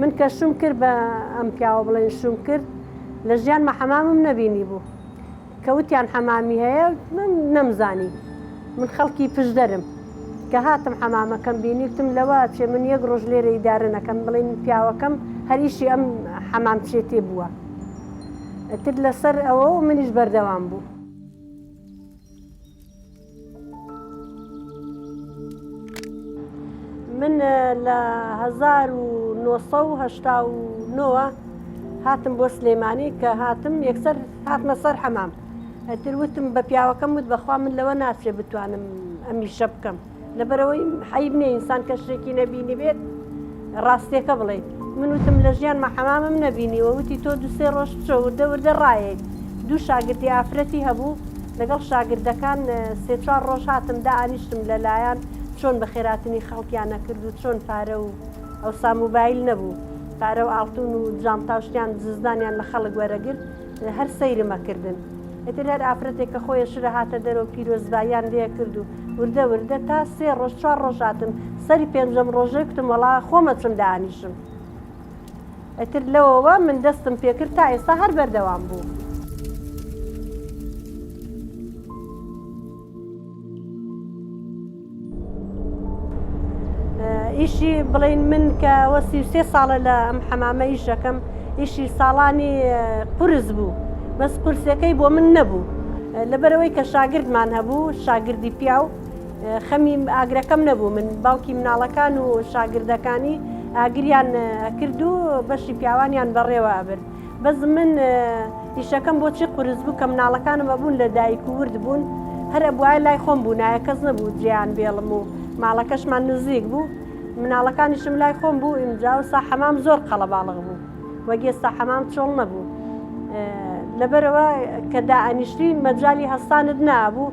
من کە شوم کرد بە ئەم پیاوە بڵێن شوم کرد لە ژیان مەحەمامم نەبینی بوو کە وتیان حەمامی هەیە من نەمزانی من خەڵکی پشدەرم کە هاتم حەمامەکەم بینیوتم لەوە چێ من یەک ڕۆژ لێرە ئیدارە نەکەم بڵین پیاوەکەم هەریشی ئەم حەمام چێتێ بووە ئەتر لەسەر ئەوە منیش بەردەوام بوو. من لە 1970ەوە هاتم بۆ سلێمانی کە هاتم یەکسەر هاتمە سەر حەمام ئەتر وتم بە پیاوەکەم وت بەخوا من لەوە ناچێ بتوانم ئەمیشە بکەم لەبەرەوەی حیب نیە ئینسان کە شتێکی نەبینی بێت ڕاستێکە بڵێیت من وتم لە ژیانمە حەمامم نەبینیوە وتی تۆ دوسێ ڕۆژ بچۆ وردە وردە ڕایەیت دوو شاگردی ئافرەتی هەبوو لەگەڵ شاگردەکان سێ چوار ڕۆژ هاتم دا ئانیشتم لەلایەن چۆن بە خێراتنی خەڵکیان نەکرد و چۆن پارە و ئەوسا موبایل نەبوو پارە و ئاڵتون و جانتا و شتیان دزدانیان لە خەڵک وەرەگرت هەر سەیرم ئەکردن ئیتر هەر ئافرەتێک کە خۆیە شرە هاتە دەرەوە پیرۆزباییان لێ کرد و وردە وردە تا سێ ڕۆژ چوار ڕۆژ هاتن سەری پێنجەم ڕۆژێ کتم وەڵا خۆم ئەچم دانیشم ئیتر لەوەوە من دەستم پێکرد تا ئێستا هەر بەردەوام بوو. ئیشی بڵین من کە وە سی سێ ساڵە لە ئەم حەمامە ئیش دەکەم ئیشی ساڵانی قرس بوو بەس قرسەکەی بۆ من نەبوو لەبەرەوەی کە شاگردمان هەبوو شاگردی پیاو خەمی ئاگرەکەم نەبوو من باوکی مناڵەکان و شاگردەکانی ئاگریان ئەکرد و بەشی پیاوانیان بەڕێوە ئەبرد بەس من ئیشەکەم بۆچی قورس بوو کە مناڵەکانم ئەبوون لە دایک و ورد بوون هەر ئەبواە لای خۆم بوو نایە کەس نەبوو جێیان بێڵم و ماڵەکەشمان نزیک بوو مناڵەکانیشم لای خۆم بوو ئینجا و سا حەمام زۆر قەڵەباڵغ بوو وەگێستا حەمام چۆڵ نەبوو لەبەرەوە کە دائەنیشتی مەجای هەستانت نابوو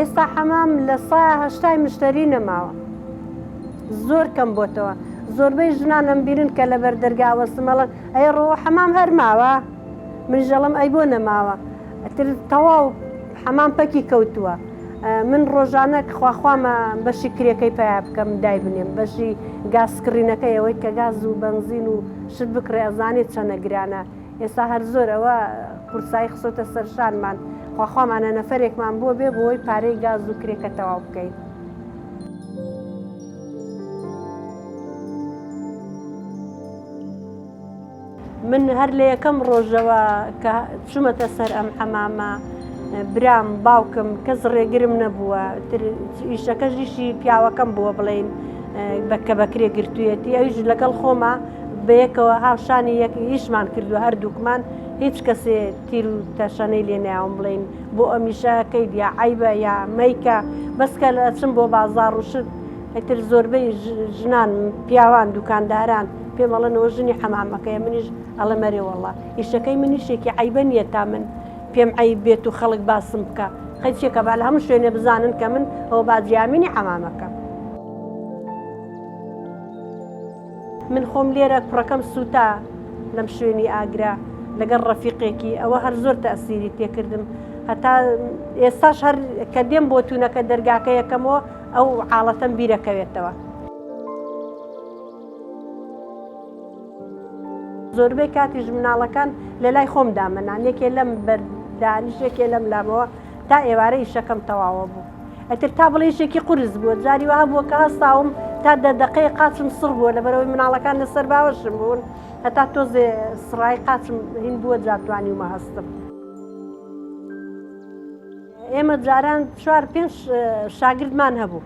ئێستا حەمام لە سا هەشتای مشتری نەماوە زۆر کەم بۆتەوە زۆربەی ژنانم بیرن کە لە بەر دەرگاوە سمەڵن ئەی ڕۆ حەمام هەرماوە منژەڵم ئەی بۆ نەماوە ئەتر تەواو حەمام پەکی کەوتووە من ڕۆژانە خواخوامە بەشی کرێکەی پیا بکەم دایبنێم بەشی گازکڕینەکە ئەوەی کە گاز و بەنزین و شت بکڕێ ئەزانێت چەنە گرانە ئێستا هەر زۆر ئەوە قورسایی خسۆتە سەرشانمان خواخوامانە نەفرێکمان بۆ بێ بۆی پارەی گاز و کرێکە تەواو بکەین. من هەر لە یەکەم ڕۆژەوە کە چوومەتە سەر ئەم حەمامە برام باوکم کەس ڕێگرم نەبووە ئیشەکەش ئیشی پیاوەکەم بووە بڵین بەکە بەکرێ گرتوویەتی ئەویش لەگەڵ خۆمە بەیەکەوە هاوشانی یەک ئیشمان کردو هەردووکمان هیچ کەسێ تیر و تەشەنەی لێ ناوم بڵین بۆ ئەمیشە کەی دیا عیبە یا مەیکە بەسکە لە چم بۆ بازار ڕوشت ئەتر زۆربەی ژنان پیاوان دوکانداران پێم ئەڵێن ئەوە ژنی حەمامەکەیە منیش ئەڵێم ئەرێ وەڵڵا ئیشەکەی من ئیشێکی عەیبە نییە تا من پێم عەیب بێت و خەڵک باسم بکا هەر چێکە با لە هەموو شوێنێ بزانن کە من ئەوە باجیامینی حەمامەکەم من خۆم لێرە کوڕەکەم سووتا لەم شوێنی ئاگرا لەگەڵ ڕەفیقێکی ئەوە هەر زۆر تەسیری تێکردم هەتا ئێستاش هەر کە دێم بۆ تونەکە دەرگاکە یەکەمەوە ئەو حاڵەتەم بیرەکەوێتەوە. زۆربەی کاتیش مناڵەکان لە لای خۆم دامەنان یەکێ لەم بەر دانیش یەکێ لەم لامەوە تا ئێوارە ئیشەکەم تەواوە بوو ئەتر تا بڵێ یشێکی قورس بووە جاری وها بووە کە هەستاوم تا دە دەقەیە قاچم سڕ بووە لە بەرەوەی مناڵەکان لەسەر باوەشم بوون هەتا تۆزێ سڕای قاچم هین بووە جاتوانی ومە هەستم. ئێمە جاران چوار پێنج شاگردمان هەبوو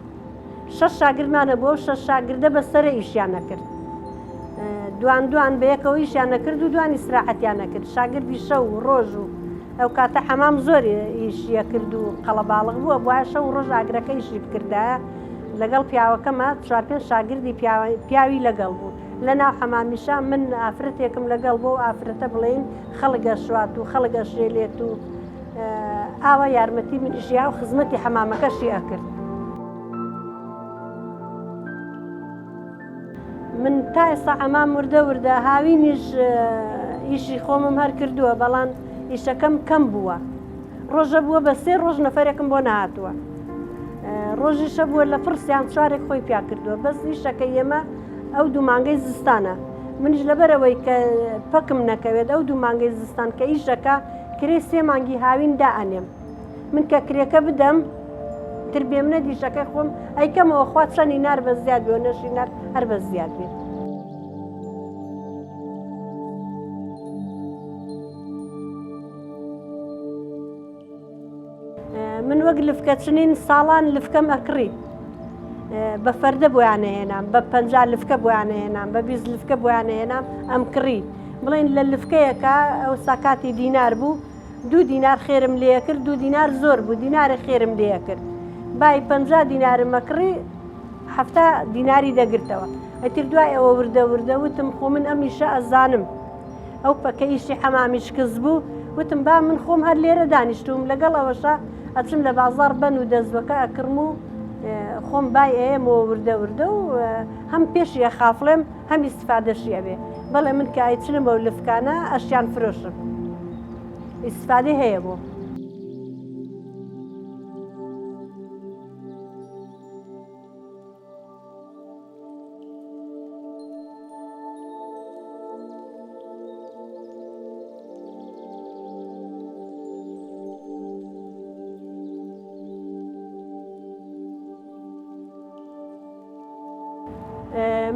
شەش شاگردمان هەبوو و شەش شاگردە بە سەر ئیشیان نەکرد دوان دوان بە یەکەوە ئیشیان نەکرد و دوانی سراحەتیان نەکرد شاگردی شەو و ڕۆژ و ئەو کاتە حەمام زۆر ئیشیە کرد و قەڵەباڵغ بووە بواە شەو ڕۆژ ئاگرەکە ئیشی بکردە لەگەڵ پیاوەکەمە چوار پێنج شاگردی پیاوی لەگەڵ بوو لە ناو حەمامیشە من ئافرەتێکم لەگەڵ بۆ ئافرەتە بڵێن خەڵگە شوات و خەڵگە شێلێت و ئاوا یارمەتی منی ژیا و خزمەتی حەمامەکەشی ئەکرد. من تا ئێستا ئەمام وردە وردە هاوینیش ئیشی خۆمم هەر کردووە بەڵام ئیشەکەم کەم بووە ڕۆژە بووە بە سێ ڕۆژ نەفرێکم بۆ نهاتووە ڕۆژیشە بووە لە پرسیان چوارێک خۆی پیا کردووە بەس ئیشەکە ئێمە ئەو دوو مانگەی زستانە منیش لەبەرەوەی کە پەکم نەکەوێت ئەو دوو مانگەی زستان کە ئیشەکە کرێی سێ مانگی هاوین دائەنێم من کە کرێکە بدەم تر بێمنە دیشەکەی خۆم ئەیکەمەوە خوا چەنی نار بە زیاد بۆ نەشی نار هەر بە زیاد بێت. من وەک لفکە چنین ساڵان لفکەم ئەکڕی بە فەردە بۆیانەهێنام بە پەنج لفکە بۆیانەهێنام بە بیست لفکە بۆیانەهێنام ئەم کڕی بڵین لە لفکەیەکە ئەو ساکاتی دینار بوو دوو دینار خێرم لێ کرد دوو دینار زۆر بوو دینارە خێرم لێ کرد بای پ دینارم مەکڕی هەفتا دیناری دەگرتەوە ئەتر دوای ئەوە وردە وردە وتم خۆ من ئەم میشە ئەزانم ئەو پەکە ئیشی حەمامی شکست بوو وتم با من خۆم هەر لێرە دانیشتوم لەگەڵ ئەوەشە ئەچم لە بازار بەن و دەستبەکە ئەکڕم و خۆم بای ئەیەمەوە وردە وردە و هەم پێشی ئەخافڵێم هەم ئیسفادەشی ئەبێ بەڵێ من کە ئایچنمە و لفکانە ئەشیان فرۆشم ئیسفادی هەیە بۆ.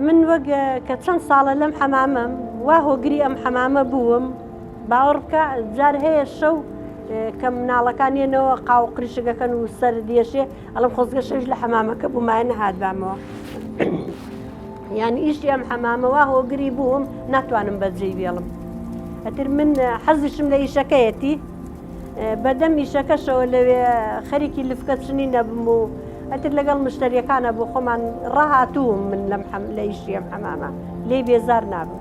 من وەک کە چەند ساڵە لەم حەمامەم وا هۆگری ئەم حەمامە بووم باوەڕ بکە جار هەیە شەو کە مناڵەکان ێنەوە قاو قریشەکەکەن و سەر دێشێ ئەڵێم خۆزگە شەویش لە حەمامەکە بوومایە نەهاتبامەوە یانی ئیشی ئەم حەمامەوە هۆگری بووم ناتوانم بەجێی بێڵم ئەتر من حەزیشم لە ئیشەکەیەتی بەدەم ئیشەکەشەوە لەوێ خەریکی لفکە چنی نەبم و ئەتر لەگەڵ مشتریەکانە بۆ خۆمان ڕاهاتووم من لەم حەم لە ئیشی ئەم حەمامە لێ بێزار نابم.